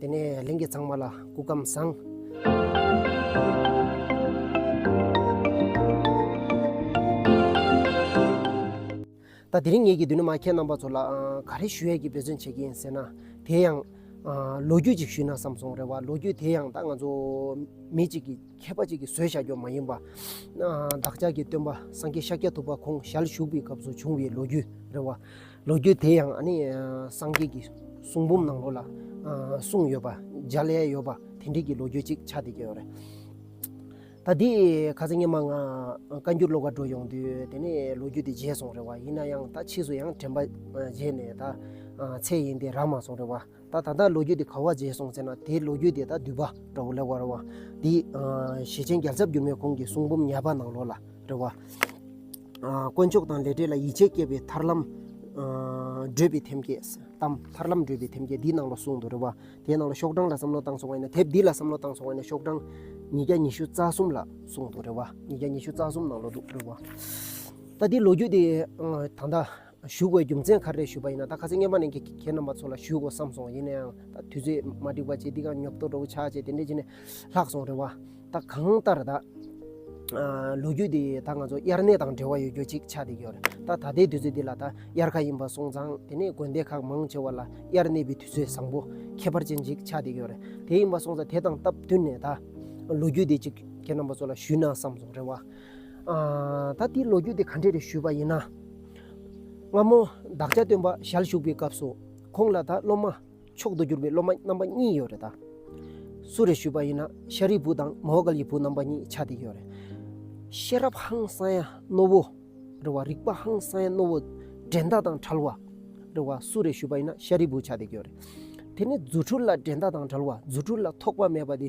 དེ་ནས་གླིང་གི་ཚང་མ་ལ་སྐུ་ཁམས་བཟང། ད་དེ་རིང་ངེད་ཀྱིས་འདི་ནས་མ་ཁྱེད་རྣམ་པ་ཚོ་ལ་ག་རེ་ཞུ་ཡས་ཀྱི་འབད་བརྩོན་བྱེད་ཀྱི་ཡིན་ཟེར་ན། དེ་ཡང། ལོ་རྒྱུས་ཅིག་ཞུས་ན་བསམ་སོང་རེད་བ་ལོ་རྒྱུས་དེ་ཡང་ད་ང་ཚོ། མི་གཅིག་གིས་མཁས་པ་ཅིག་གིས་བཟོས་བཞག་རྒྱུ་མ་ཡིན་པ། བདག་ཅག་གི་སྟོན་པ་སངས་རྒྱས་ཤཱཀྱ་ཐུབ་པ་ཁོང་ཞལ་བཞུགས་པའི་སྐབས་སུ་བྱུང་བའི་ལོ་རྒྱུས་རེད་བ། ལོ་རྒྱུས་དེ་ཡང་སངས་རྒྱས་ཀྱི་གསུང་འབུམ་ནང་ལོ་ལ་གསུངས་ཡོད་པ་འཇའ་ལས་ཡོད་པ་དེ་འདྲའི་གྱི་ལོ་རྒྱུས་ཅིག་ཆགས་བསྡད་ཀྱི་ཡོད་རེད། ད་དེས་ཁ་ཚ་ངེད་མ་ང་བཀའ་འགྱུར་ཀློག་པར་འགྲོ་ཡོང་དུས་དེ་ནས་ལོ་རྒྱུས་དེ་བརྗེད་སོང་རེད་བ་ཡིན་ན་ཡང་ད་ཕྱིས་སུ་ཡང་དྲན་པ་བརྗེད་ནས་ད་ཚེ་ཡིན་ཏེ་རག་མ་སོང་རེད་བ། ད་ད་ལྟ་ལོ་རྒྱུས་དེ་ག་བ་བརྗེས་སོང་ཟེར་ན་དེའི་ལོ་རྒྱུས་དེ་ད་བསྡུས་པ་འདྲ་བོ་ལེ་བར་བ། འདི་ཞེ་ཆེན་རྒྱལ་ཚབ་འགྱུར་མེད་ཁོང་གི་གསུང་འབུམ་ཉར་པ་ནང་ལོགས་ལ་རེ་བ། དཀོན་མཆོག་དང་ལས་འབྲས་ལ་ཡིད་ཆེས་བསྐྱེད་པའི་ཐར་ལམ་བགྲོད་པའི་ཐེམ་སྐས་གཏམ། ཐར་ལམ་བགྲོད་པའི་ཐེམ་སྐས་འདིའི་ནང་ལོགས་གསུང་དུ་རེ་བ། དེའི་ནང་ལོགས་ཤོག་གྲངས་ལ་བསམ་བློ་བཏང་སོང་བ་ཡིན་ན་དེབ་འདི་ལ་བསམ་བློ་བཏང་སོང་བ་ཡིན་ན་ཤོག་གྲངས་ཉིས་བརྒྱ་ཉི་ཤུ་རྩ་གསུམ་ལ་གསུང་དུ་རེ་བ། ཉིས་བརྒྱ་ཉི་ཤུ་རྩ་གསུམ་ནང་ལོགས་འདུག་རེ་བ། ད་འདི་ལོ་རྒྱུས་དེ་ད་ད། བཞུགས་པའི་རྒྱུ་མཚན་ག་རེ་ཞུས་པ་ཡིན་ན་ད་ག་ཚོད་བརྙན་པར་ནས་ཁྱེད་རྣམ་པ་ཚོ་ལ་ཞུས་དགོས་བསམ་སོང་ཡིན་ན་ཡང་ད་དུས་ཚོད་མ་འགྲིག་པ་བྱས་འདི་གང་ཉོབ་ཏོ་འགྲོ་གི་ཆག་བྱས་དེ་འདྲས་བྱས་ནས་ལྷག་སོང་རེད་བ། ད་གང་ལྟར་ད་ལོ་རྒྱུས་འདི་ད་ང་ཚོ་དབྱར་གནས་དང་འབྲེལ་བ་ཡོད་རྒྱུ་ཅིག་ཆགས་བསྡད་ཀྱི་ཡོད་རེད་ད་ད་ལྟའི་དུས་ཚོད་འདི་ལ་ད་དབྱར་ཁ་ཡིན་པ་སོང་ཙང་དེ་ནས་དགོན་སྡེ་ཁག་མང་ཆེ་བ་ལ་དབྱར་གནས་པའི་དུས་ཚོད་བཟང་པོ་ཁྱད་པར་ཅན་ཅིག་ཆགས་བསྡད་ཀྱི་ཡོད་རེད་དེ་ཡིན་པ་སོང་ཙང་དེ་དང་སྟབས་བསྟུན་ནས་ད་ལོ་རྒྱུས་འདི་ཅིག་ཁྱེད་རྣམ་པ་ཚོ་ལ་ཞུས་ན་བསམ་སོང་རེད་བ། ད་དེའི་ལོ་རྒྱུས་དེ་ག་འདྲས་རེད་ཞུས་པ་ཡིན་ན། སྔ་མོ་བདག་ཅག་སྟོན་པ་ཞལ་བཞུགས་པའི་སྐབས་སུ་ཁོང་ལ་ད་སློབ་མ་མཆོག་ཏུ་གྱུར་པའི་སློབ་མ་རྣམ་པ་གཉིས་ཡོད་རེད་ད། སུ་རེད་ཞུས་པ་ཡིན་ན་ཤཱ་རིའི་བུ་དང་མོའོ་ཀཱལ་གྱི་བུ་རྣམ་པ་གཉིས་ཆ་དེ་ཡོད་རེད། ཤེས་རབ་ཧང་སང་ཡ་རྣོ་བོ། རེད་བ། རིག་པ་ཧང་སང་ཡ་རྣོ་བོ། འགྲན་ཟླ་དང་བྲལ་བ། རེད་བ། སུ་རེད་ཞུས་པ་ཡིན་ན་ཤཱ་རིའི་བུ་ཆ་དེ་ཡོད་རེད། དེ་ནི་རྫུ་འཕྲུལ་ལ་འགྲན་ཟླ་དང་བྲལ་བ་རྫུ་འཕྲུལ་ལ་ཐོགས་པ་མེད་པ་དེ།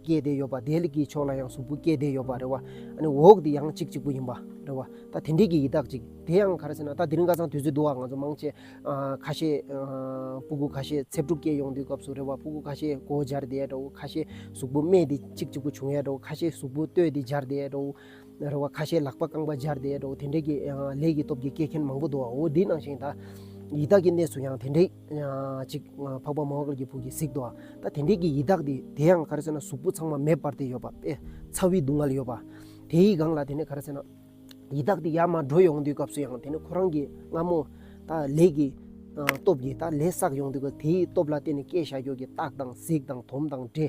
སྐྱེས་བསྡད་ཡོད་པ་དེ་ལ་གྱི་ཕྱོགས་ལ་ཡང་གཟུགས་པོ་སྐྱེས་བསྡད་ཡོད་པ་རེད་བ། ཨ་ནི་འོག་དེ་ཡང་གཅིག་གཅིག་པོ་ཡིན་པ་རེད་བ། ད་དེ་འདྲས་ཀྱི་ཡི་དྭགས་ཅིག་དེ་ཡང་ག་རེ་ཟེར་ན་ད་དེ་རིང་ཀ་ཚང་དུས་ཚོད་དུ་བ་ང་ཚོ་མང་ཆེ། ཁ་ཤས་སྤུ་གུ་ཁ་ཤས་ཚེ་སྒྲུབ་སྐྱེལ་ཡོང་དུས་སྐབས་སུ་རེད་བ་སྤུ་གུ་ཁ་ཤས་སྒོ་སྦྱར་བསྡད་ཡ་འདྲ་བོ་ཁ་ཤས་གཟུགས་པོ་སྨད་དེ་གཅིག་གཅིག་པོ་བྱུང་ཡ་འདྲ་བོ་ཁ་ཤས་གཟུགས་པོ་སྟོད་དེ་སྦྱར་བསྡད་ཡ་འདྲ་བོ། རེད་བ་ཁ་ཤས་ལག་པ་རྐང་པ་སྦྱར་བསྡད་ཡ་འདྲ་བོ་དེ་འདྲས་ཀྱི་ལས་ཀྱི་སྟོབས་ཀྱིས་སྐྱེལ་མཁན་མང་པོ་འདུག་བའོ་དེའི་ནང་བཞིན་ད་ཡི་དྭགས་ཀྱི་གནས་སུ་ཡང་དེ་འདྲས། ཅིག། འཕགས་པ་མ་ཧཱ་ཀཱ་ར་ཀྱི་བུ་ཀྱིས་གཟིགས་ཏོ། ད་དེ་འདྲས་ཀྱི་ཡི་དྭགས་དེ་དེ་ཡང་ག་རེ་ཟེར་ན་གཟུགས་པོ་ཚང་མ་མེད་པར་དེ་ཡོད་པ་དཔེ། ཚ་བའི་སྡུག་བསྔལ་ཡོད་པ། དེའི་སྒང་ལ་དེ་ནས་ག་རེ་ཟེར་ན། ཡི་དྭགས་དེ་ཡར་མར་འགྲོ་ཡོང་དུས་སྐབས་སུ་ཡང་དེ་ནི་ཁོ་རང་གི་རྔ་མོ། ད་ལས་ཀྱི། སྟོབས་ཀྱིས་ད་ལས་བསགས་ཡོང་དུས་སྐབས་དེའི་སྟོབས་ལ་བརྟེན་ནས་སྐད་བྱ་ཁྱོད་ཀྱི་རྟགས་དང་གཟིགས་དང་དོམ་དང་འདྲེ།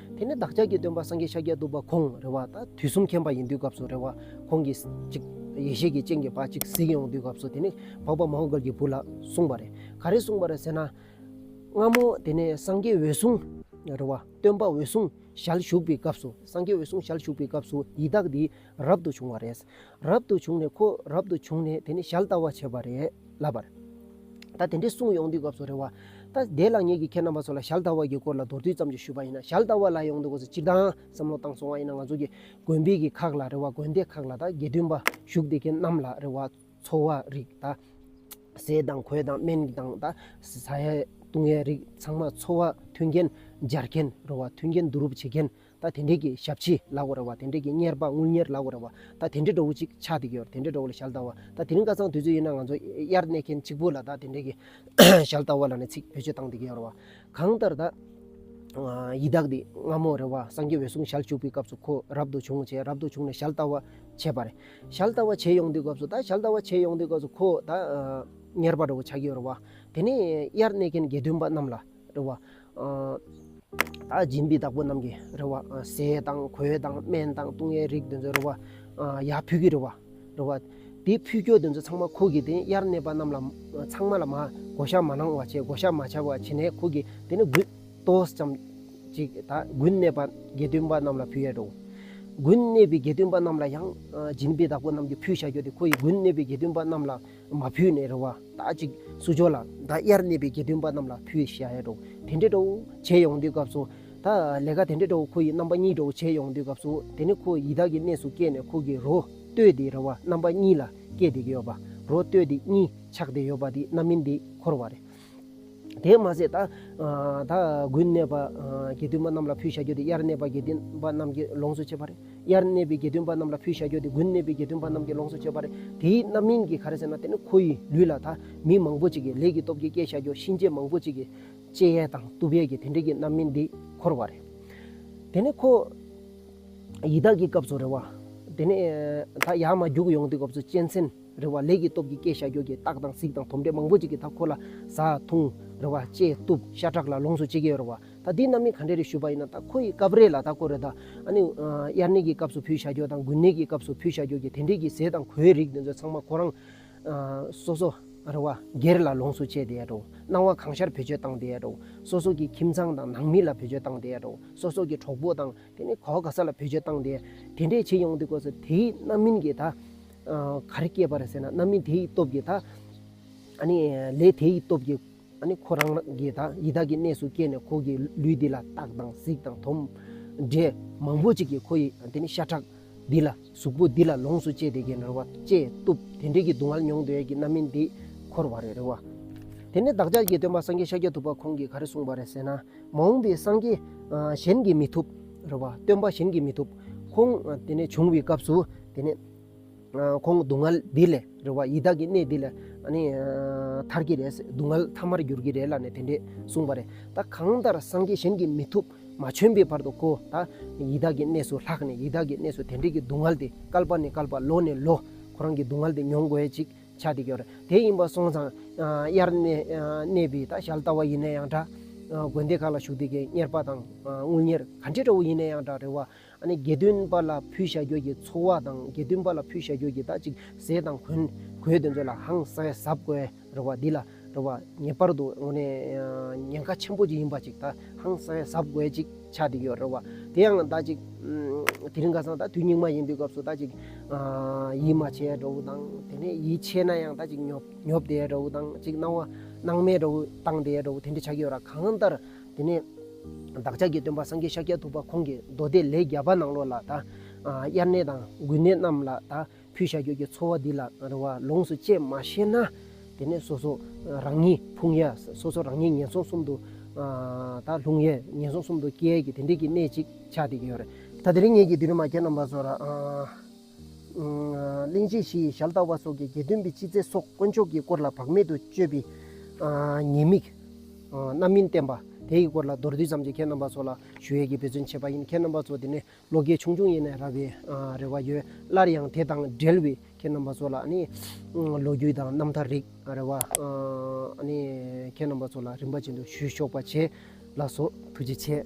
དེ་ནས་བདག་ཅག་གི་སྟོན་པ་སངས་རྒྱས་ཤཱཀྱ་ཐུབ་པ་ཁོང་རེ་བ་དང་དུས་གསུམ་མཁྱེན་པ་ཡིན་དུས་སྐབས་སུ་རེ་བ་ཁོང་གིས་ཅིག། ཡེ་ཤེས་ཀྱི་སྤྱན་གྱིས་བ་ཅིག་གཟིགས་ཡོང་དུས་སྐབས་སུ་དེ་ནི་འཕགས་པ་མ་ཧོ་གར་གྱི་བུ་ལ་གསུངས་པ་རེད། ག་རེ་གསུངས་པ་རེད་ཟེར་ན། སྔ་མོ་དེ་ནས་སངས་རྒྱས་འོད་སྲུང་རེ་བ་སྟོན་པ་འོད་སྲུང་ཞལ་བཞུགས་པའི་སྐབས་སུ་སངས་རྒྱས་འོད་སྲུང་ཞལ་བཞུགས་པའི་སྐབས་སུ་ཡི་དྭགས་འདིས། རབ་ཏུ་བྱུང་བ་རེད། རབ་ཏུ་བྱུང་ནས་ཁོ་རབ་ཏུ་བྱུང་ནས་དེ་ནས་ཞལ་བལྟ་བ་བྱས་པ་རེད་ལབ་པར། ད་དེ་འདྲའི་གསུང་ཡོང་དུས་སྐབས་སུ་རེད་བ། ད་བདེ་ལགས་ངེད་ཀྱིས་ཁྱེད་རྣམ་པ་ཚོ་ལ་ཞལ་བལྟ་བ་གྱི་སྐོར་ལ་མདོར་བསྡུས་ཙམ་ཅིག་ཞུས་པ་ཡིན་ན་ཞལ་བལྟ་བ་ལ་ཡོང་དུས་སྐབས་སུ་སྤྱིར་བཏང་བསམ་བློ་བཏང་སོང་བ་ཡིན་ན་ང་ཚོ་གི་དགོན་པའི་གི་ཁག་ལ་རེད་བ་དགོན་སྡེ་ཁག་ལ་ད་དགེ་འདུན་པ་བཞུགས་དེ་གི་རྣམས་ལ་རེད་བ་འཚོ་བ་རིགས་ད་ཟས་དང་གོས་དང་སྨན་གྱི་དང་ད་ཟ་ཡའི་བཏུང་ཡའི་རིགས་ཚང་མ་འཚོ་བ་མཐུན་རྐྱེན་སྦྱར་མཁན་རེད་བ་མཐུན་རྐྱེན་བསྡུ་རུབ་བྱེད་མཁན་ད་དེ་འདྲས་ཀྱི་ཞབས་ཕྱི་ལག་འོ་ར་བ་དེ་འདྲས་ཀྱི་གཉེར་པ་དངུལ་གཉེར་ལག་འོ་ར་བ་ད་དེ་འདྲས་འགྲོ་བོ་ཅིག་ཕྱག་དེ་གྱོར་དེ་འདྲས་འགྲོ་བོ་ལ་ཞལ་བལྟ་བ་ད་དེ་རིང་ཀ་ཚང་དུས་ཚོད་ཡོད་ན་ང་ཚོ་དབྱར་གནས་མཁན་གཅིག་པོ་ལ་ད་དེ་འདྲས་ཀྱི་ཞལ་བལྟ་བ་ལ་ནས་ཚིག་བེད་སྤྱོད་བཏང་དེ་གྱོར་བ་གང་ལྟར་ད་ཡི་དྭགས་འདི་སྔ་མོ་རེ་བ་སངས་རྒྱས་འོད་སྲུང་ཞལ་བཅུག་པའི་སྐབས་སུ་ཁོ་རབ་ཏུ་བྱུང་བྱས་རབ་ཏུ་བྱུང་ནས་ཞལ་བལྟ་བ་བྱས་པ་རེད་ཞལ་བལྟ་བ་བྱས་ཡོང་དུས་སྐབས་སུ་ད་ཞལ་བལྟ་བ་བྱས་ཡོང་དུས་སྐབས་སུ་ཁོ་ད་གཉེར་པ་འགྲོ་བོ་ཆགས་ཀྱི་ཡོར་བ་དེ་ནས་དབྱར་གནས་མཁན་དགེ་འདུན་པ་རྣམས་ལ། རེ་བ། སྦྱིན་པའི་བདག་པོ་རྣམས་ཀྱི་རེ་བ། ཟས་དང་གོས་དང་སྨན་དང་བཏུང་བའི་རིགས་དེ་ཚོའི་རེ་བ། ཡར་ཕུད་ཀྱི་རེ་བ། རེ་བ། དེའི་ཕུད་སྐྱོར་དེ་ཚོ་ཚང་མ་ཁུག་གིས་དེ་གཡར་གནས་པ་རྣམས་ལ་ཚང་མ་ལ་མ་བགོ་བཤའ་མ་གནང་བ་བྱས་བགོ་བཤའ་མ་བྱས་པ་བྱས་ནས་ཁུག་གིས་དེ་ནི་དགུན་ཏོགས་ཙམ་ཅིག་ད་དགུན་གནས་པ་དགེ་བཏུན་པ་རྣམས་ལ་ཕུལ་ཡས་རོ། དགུན་གནས་པའི་དགེ་བཏུན་པ་རྣམས་ལ་ཡང་སྦྱིན་པའི་བདག་པོ་རྣམས་ཀྱི་ཕུད་བཤའ་སྐྱོར་དེ་ཁོ་ཡིས་དགུན་གནས་པའི་དགེ་བཏུན་པ་རྣམས་ལ་མ་ཕུལ་ནས་རེ་བ་དག་ཅིག་བསུ་ཆོག་ལ། ད་དབྱར་གནས་པའི་དགེ་འདུན་པ་རྣམས་ལ་ཕུལ་ཞེས་ཡ་གྲོགས་དེ་འདྲའི་གྲོགས་བྱེད་ཡོང་དུས་སྐབས་སུ། ད་ལས་ཀ་དེ་འདྲའི་གྲོགས་ཁོ་ཡི་རྣམ་པ་གཉིས་གྲོགས་བྱེད་ཡོང་དུས་སྐབས་སུ་དེ་ནི་ཁོ་ཡི་དྭགས་ཀྱི་གནས་སུ་སྐྱེས་ནས་ཁོ་གི་རོ་སྟོད་དེ་རེ་བ་རྣམ་པ་གཉིས་ལ་སྐྱེས་བསྡད་ཀྱི་ཡོད་པ། རོ་སྟོད་དེ་གཉིས་ཆགས་བསྡད་ཡོད་པ་དེ་རྣམ་སྨིན་དེ་འཁོར་བ་རེད། དེས་མ་ཟད། ད་དགུན་གནས་པ་དགེ་འདུན་པ་རྣམས་ལ་ཕུལ་བྱ་རྒྱུ་དེ་དབྱར་གནས་པ་དགེ་འདུན་པ་རྣམས་ཀྱིས་ལོངས་སུ་སྤྱད་པ་རེད། དབྱར་གནས་པའི་དགེ་འདུན་པ་རྣམས་ལ་ཕུལ་བྱ་རྒྱུ་དེ་དགུན་གནས་པའི་དགེ་འདུན་པ་རྣམས་ཀྱིས་ལོངས་སུ་སྤྱད་པ་རེད། དེའི་རྣམ་སྨིན་གྱིས་ག་རེ་ཟེར་ན་དེ་ནི་ཁོ་ཡི་ལུས་ལ་ད་མི་མང་པོ་ཅིག་གིས་ལས་ཀྱི་སྟོབས་ཀྱིས་བསྐྱེད་བྱ་རྒྱུ་གཤིན་རྗེ་མང་པོ་ཅིག་གིས་ལྕེ་ཡས་དང་སྟུབས་ཡས་ཀྱིས་དེ་འདྲས་ཀྱི་རྣམ་སྨིན་འདི་འཁོར་བ་རེད། དེ་ནས་ཁོ་ཡི་དྭགས་ཀྱི་སྐབས་སུ་རེ་བ། དེ་ནས་ད་ཡར་མ་རྒྱུགས་ཡོང་དུས་སྐབས་སུ་གཅན་གཟན། རེ་བ་ལས་ཀྱི་སྟོབས་ཀྱིས་སྐྱེ་བྱ་སྒྱུར་གྱི་རྟགས་དང་གཟིགས་དང་དོམ་དྲེད་མང་པོ་ཅིག་གི་མཐའ་འཁོར་ལ་བཟའ། འཐུང། རེ་བ། བཅས། གཏུབ། ཤ་ཁྲག་ལ་ལོངས་སུ་སྤྱད་ཀྱི་རེ་བ། ད་འདི་རྣམས་ནི་ག་འདྲས་རེ་ཞུས་པ་ཡིན་ན་ད་ཁོ་ཡི་སྐབས་རེ་ལ་ད་ཀོ་རེ་ད། ཨ་ནི། དབྱར་གནས་ཀྱི་སྐབས་སུ་ཕུལ་བྱ་སྐྱོར་དང་དགུན་གནས་ཀྱི་སྐབས་སུ་ཕུལ་བྱ་སྐྱོར་གྱི་དེ་འདྲས་ཀྱི་ཟས་དང་གོའི་རིགས་འདི་ཚོ་ཚང་མ་ཁོ་རང། སོ་སོ། རེ་བ། སྒེར་ལ་ལོངས་སུ་སྤྱད་བསྡད་ཡ་འགྲོ། སྣང་བ་གང་ཤར་བེད་སྤྱོད་བཏང་བསྡད་ཡ་འགྲོ། སོ་སོ་ཀྱི་ཁྱིམ་ཚང་དང་ནང་མི་ལ་བེད་སྤྱོད་བཏང་བསྡད་ཡ་འགྲོ། སོ་སོ་ཀྱི་གྲོགས་པོ་དང་དེ་ནི་ག་བ་ག་ས་ལ་བེད་སྤྱོད་བཏང་བསྡད། དེ་འདྲས་བྱེད་ཡོང་བསྡད་ཀོ་ས་དེའི་རྣམ་སྨིན་གྱིས་ད། ག་རེ་སྐྱེས་པ་རེད་ཟེར་ན་རྣམ་སྨིན་དེ་ཡི་སྟོབས་ཀྱིས་དང། ལས་དེ་ཡི་སྟོབས་ཀྱིས་ཁོ་རང་གི་དང་ཡི་དྭགས་ཀྱི་གནས་སུ་སྐྱེས་ནས་ཁོ་གི་ལུས་འདི་ལ་སྟག་དང་གཟིག་དང་དོམ་འབྲས་མང་པོ་ཅིག་གིས་ཁོ་ཡི་ཤ་ཁྲག་འདི་ལ་གཟུགས་པོ་འདི་ལ་ལོངས་སུ་སྤྱད་དེ་ཀྱེ་རེ་བ་ལྕེ་གཏུབ་དེ་འདྲས་ཀྱི་སྡུག་བསྔལ་མྱོང་འདོད་ཀྱི་རྣམ་སྨིན་འདི་འཁོར་བ་རེ་རེ་བ། དེ་ནས་བདག་ཅག་གི་སྟོན་པ་སངས་རྒྱས་ཤཱཀྱ་ཐུབ་པ་ཁོང་གིས་ག་རེ་གསུངས་པ་རེད་ཟེར་ན། མ་འོངས་པའི་སངས་རྒྱས་གཞན་གྱིས་མི་ཐུབ་རེ་བ་སྟོན་པ་གཞན་གྱིས་མི་ཐུབ་ཁོང་བྱུང་བའི་སྐབས་སུ་དེ་ནས་ཁོང་སྡུག་བསྔལ་འདི་ལས་རེ་བ་ཡི་དྭགས་ཀྱི་གནས་འདི་ལས་ཐར་གྱི་རེད་སྡུག་བསྔལ་ཐ་མར་འགྱུར་གྱི་རེད་ལ་ནས་དེ་འདྲས་གསུངས་པ་རེད་ད་གང་ལྟར་སངས་རྒྱས་གཞན་གྱིས་མི་ཐུབ་མ་བྱོན་པའི་བར་དུ་ཁོ་ད་ཡི་དྭགས་ཀྱི་གནས་སུ་ལྷགས་ནས་ཡི་དྭགས་ཀྱི་གནས་སུ་དེ་འདྲས་ཀྱི་སྡུག་བསྔལ་དེ་སྐལ་པ་ནས་སྐལ་པ་ལོ་ནས་ལོ་ཁོ་རང་གི་སྡུག་བསྔལ་དེ་མྱོང་དགོས་ཅིག་ཆགས་འདི་ཀྱོ་རེད་དེ་ཡིན་པ་སོང་ཙང་དབྱར་གནས་པའི་ད་ཞལ་ལྟ་བ་ཡིན་ན་ཡང་འདྲ་དགོན་སྡེ་ཁག་ལ་ཞུགས་འདི་གའི་གཉེར་པ་དང་དངུལ་གཉེར་ག་འདྲས་འདྲ་བོ་ཡིན་ན་ཡང་འདྲ་རེ་བ་དགེ་འདུན་པ་ལ་ཕུལ་བྱ་གྱུར་གྱི་ཚོགས་བ་དང་དགེ་འདུན་པ་ལ་ཕུལ་བྱ་གྱུར་གྱི་དག་ཅིག་ཟས་དང་གོན། གོས་དེ་ཚོ་ལ་ཧང་སངས་གཟབ་དགོས་རོགས་པ་འདི་ལ་རོགས་པ་ངེས་པར་དུ་ངོ་ནས་ཉེན་ཁ་ཆེན་པོ་ཅིག་ཡིན་པ་ཅིག་དག་ཧང་སངས་གཟབ་དགོས་ཅིག་ཆ་དེ་ཡོད་རོགས་པ་དེ་ཡང་དག་ཅིག་དེ་རིང་ཁ་སང་དག་དུས་སྙིགས་མ་ཡིན་པའི་སྐབས་སུ་དག་ཅིག་ཡིད་མ་ཆེས་རོགས་པོ་དང་དེ་ནས་ཡིད་ཆེས་ན་ཡང་དག་ཅིག་ཉོབ་ཉོབ་དེ་རོགས་པོ་དང་ཅིག་སྣང་བ་སྣང་མེད་རོགས་པོ་བཏང་དེ་རོགས་པོ་དེ་འདྲ་ཆགས་ཀྱི་ཡོད་ར་གང་ལྟར་དེ་ནས་བདག་ཅག་གི་སྟོན་པ་སངས་རྒྱས་ཤཱཀྱ་ཐུབ་པ་ཁོང་གིས་མདོ་སྡེ་ལེགས་བརྒྱ་པ་ནང་ལོགས་ལ་དང། དབྱར་གནས་དང་དགུན་གནས་རྣམས་ལ་དང་ཕུལ་བྱ་ཁྱོད་ཀྱི་འཚོ་བ་འདི་ལ་རེ་བ་ལོངས་སུ་སྤྱད་མ་ཤེས་ན། དེ་ནས་སོ་སོ་རང་ཉིད་ཕུང་ཡ་སོ་སོ་རང་ཉིད་ངན་སོང་གསུམ་དུ་དང་ལྷུང་ཡས་ངན་སོང་གསུམ་དུ་སྐྱེ་ཡས་ཀྱི་དེ་འདྲས་ཀྱི་གནས་ཅིག་ཆགས་ཏེ་ཡོད་རེད། ད་དེ་རིང་ངེད་ཀྱི་དུས་རིང་མ་ཁྱེད་རྣམ་པ་ཚོར། གླིང་རྗེ་བཞི་ཡི་ཞལ་བལྟ་བ་སོགས་ཀྱི་དགེ་འདུན་པའི་ཕྱི་རྫས་སོགས་དཀོན་མཆོག་གི་སྐོར་ལ་བག་མེད་དུ་སྤྱོད་པའི་ཉེས་དམིགས་རྣམ་སྨིན་བསྟན་པ། དེའི་སྐོར་ལ་མདོར་བསྡུས་ཙམ་གྱིས་ཁྱེད་རྣམ་པ་ཚོ་ལ་ཞུ་ཡས་ཀྱི་འབད་བརྩོན་བྱས་པ་ཡིན་ཁྱེད་རྣམ་པ་ཚོ་དེ་ནས་ལོ་རྒས་ཆུང་ཆུང་ཡིན་ནས་ར་བའི་རེ་བ་ཡོད་སླར་ཡང་དེ་དང་འབྲེལ་བའི་ཁྱེད་རྣམ་པ་ཚོ་ལ་ལོ་རྒྱུས་དང་རྣམ་ཐར་རིག་རེ་བ་ཁྱེད་རྣམ་པ་ཚོ་ལ་རིམ་པ་ཅན་དུ་ཞུས་ཆོག་པ་བྱས་ལགས་སོ་ཐུགས་རྗེ་ཆེ།